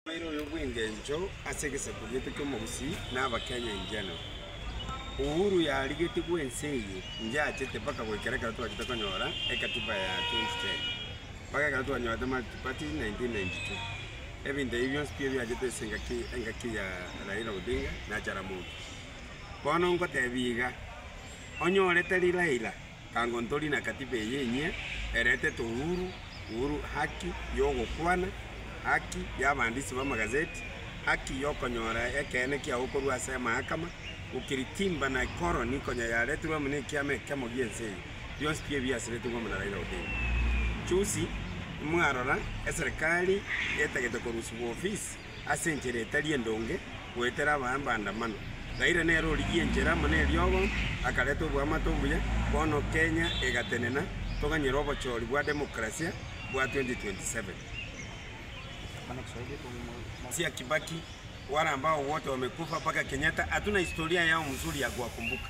Omoerio oyo bw'engencho ase egesaku gete ki'omogusii na Abakenya in general. Uhuru yarigetigwe ense eye inche achete mpaka goikera ekero twachete konyora ekatiba ya 2010 mpaka ekero twanyorete multiparty 1992. Ebinto ebi bionsi mbiyo biachete ase engaki engaki ya Raila Odinga na Jaramogi. Bono ngotebia iga, onyorete ri Raila. Tango ntori na katiba eye enyia, eretete uhuru, uhuru, haki y'ogokwana, haki y'abaandisi b'amagazeti, haki y'okonyora ekeene kiao korwa ase amahakama, ukiritimba na ikoroni konya yaretirwe amo n'ekiama ekemo gi'ense eye, bionsi pi ebi biasiretwe amo na Raila Odinga. Chusi, imwarora eserekari etagete korusibwa ofisi. ase enchera etari endonge goetera abaembaandamano. Gaire nere origie enchera amo neriogo, akareta oboamate obuya, bono Kenya egatenena, toganyire obochori bwa democracia bwa 2027. Sia Kibaki, Waramba Owote Wamekufa Mpaka Kenyatta Hatuna Historia Yao Mzuri Ya Kuwakumbuka.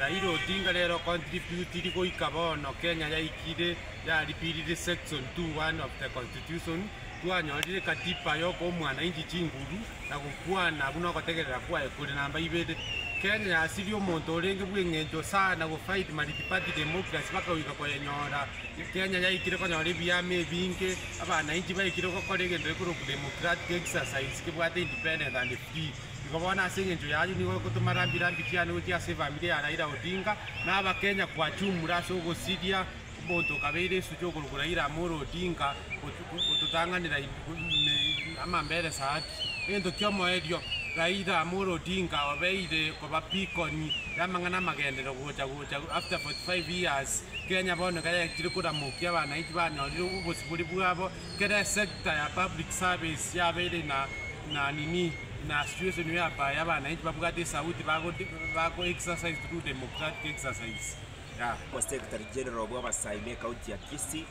Raila Odinga rero contributiri goika bono Kenya yaikire yaripiriri section 2.1 of the constitution twanyorire katiba yokoa omwanainchi chinguru na gokwana buna ogotegerera kwaye kore namba ibere. Kenya yasirie omonto orenge bweng'encho sana go fight multiparty democracy baka goika koyenyora. Kenya yaikire konyora ebiama ebinge, abanainchi baikire gokora egento gekorokwa democratic exercise kebwate independence and free. Igo bono ase engencho y'ayio nigo egotoma rambi rambi chiane gochia ase efamiri ya Raila Odinga na aba Kenya kwachumure ase ogosiria omonto okabeire esusu y'okorokwa Raila Amolo Odinga gototang'anera ime amamberesa ake. Egento ki'omoerio, Raila Amolo Odinga obeire koba pikoni y'amang'ana amagenderero gocha gocha after 45 years Kenya bono ekero yaetire koramokia abanainchi banyorire obosibori bwabo, Kera esector ya public service yabeire na na nini na situation whereby abanainchi babwate esauti bago bago exercise through democratic exercise yeah. Secretary General bw'Abasaai be County ya Kisii.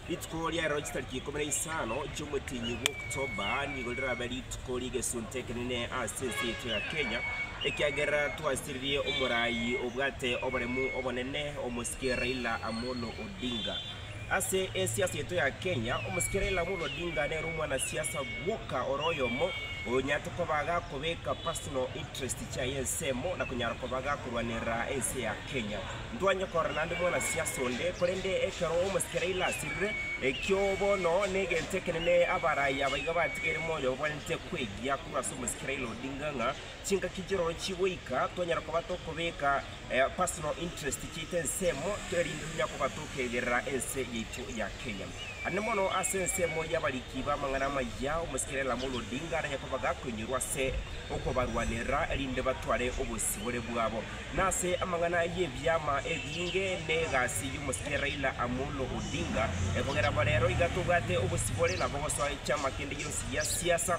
Rituko ria rero chitariki ikomi na isano chi'omotienyi bwa October nigo rirabe rituko ri'egesunte ekenene ase ense yaito ya Kenya, ekiagera twasiririe omorai obwate oboremu obonene, Omosike Raila Amolo Odinga. Ase esiasa yaito ya Kenya, omosikera Raila Amolo Odinga nere omwanasiasa bwoka ore oyomo onyarete koba agakobeka personal interest chiaye ensemo na konyara koba agakorwanerera ense ya Kenya. Ntwanye korora naende mwanasiasa onde, korende ekero omosikera Raila asirire, ekio bono negento ekenene abaraia abaiga batigeire moyo babwanete kwegia korwa ase omosikera Raila Odinga ng'a Chingaki chirochi goika twanyara koba tokobeka personal interest chiaito ensemo erinde tonya koba tokegerera ense yaito ya Kenya. Ande mono ase ensemo y'abariki b'amang'ana amaya, omosike Raila Amolo Odinga arenge koba gakoinyorwa ase okobarwanera erinde batware obosibore bwabo. Na ase amang'ana y'ebiama ebinge n'egasi y'omosike Raila Amolo Odinga, kogera bo rero iga tobwate obosibore nabo gosoa echiama kende yonsi gia siasa,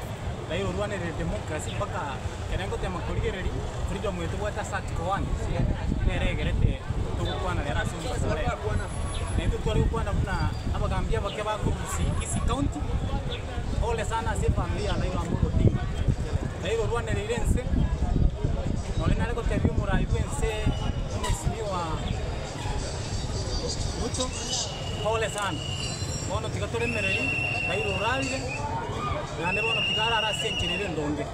Raila orwanerere democracy mpaka ekero egotema korigereria freedom eye tobwate ase article one nere egerete togokwana rero ase omobaso one. Na intwe tware gokwana buna abagaambi abake ba Kisii Kisii county pole sana ase efamiri ya Raila Amolo Odinga. Raila orwanereire ense nore nare gotebia omorai bw'ense Mheshimiwa Ruto. Pole sana. Bono tiga tore emereri, Kairo orarire, naende bono tiga arare ase enchera ere endonge.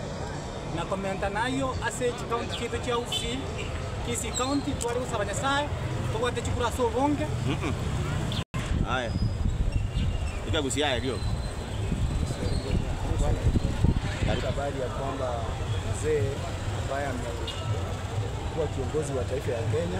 Na komenta nayio ase chikaunti chiaito chia Uasin, Kisii County, tware gosaba Nyasae, tobwate chikura ase obonge, Aye. Ika gusia aye rioka. Katika habari ya kwamba mzee ambaye amekuwa kiongozi wa taifa ya Kenya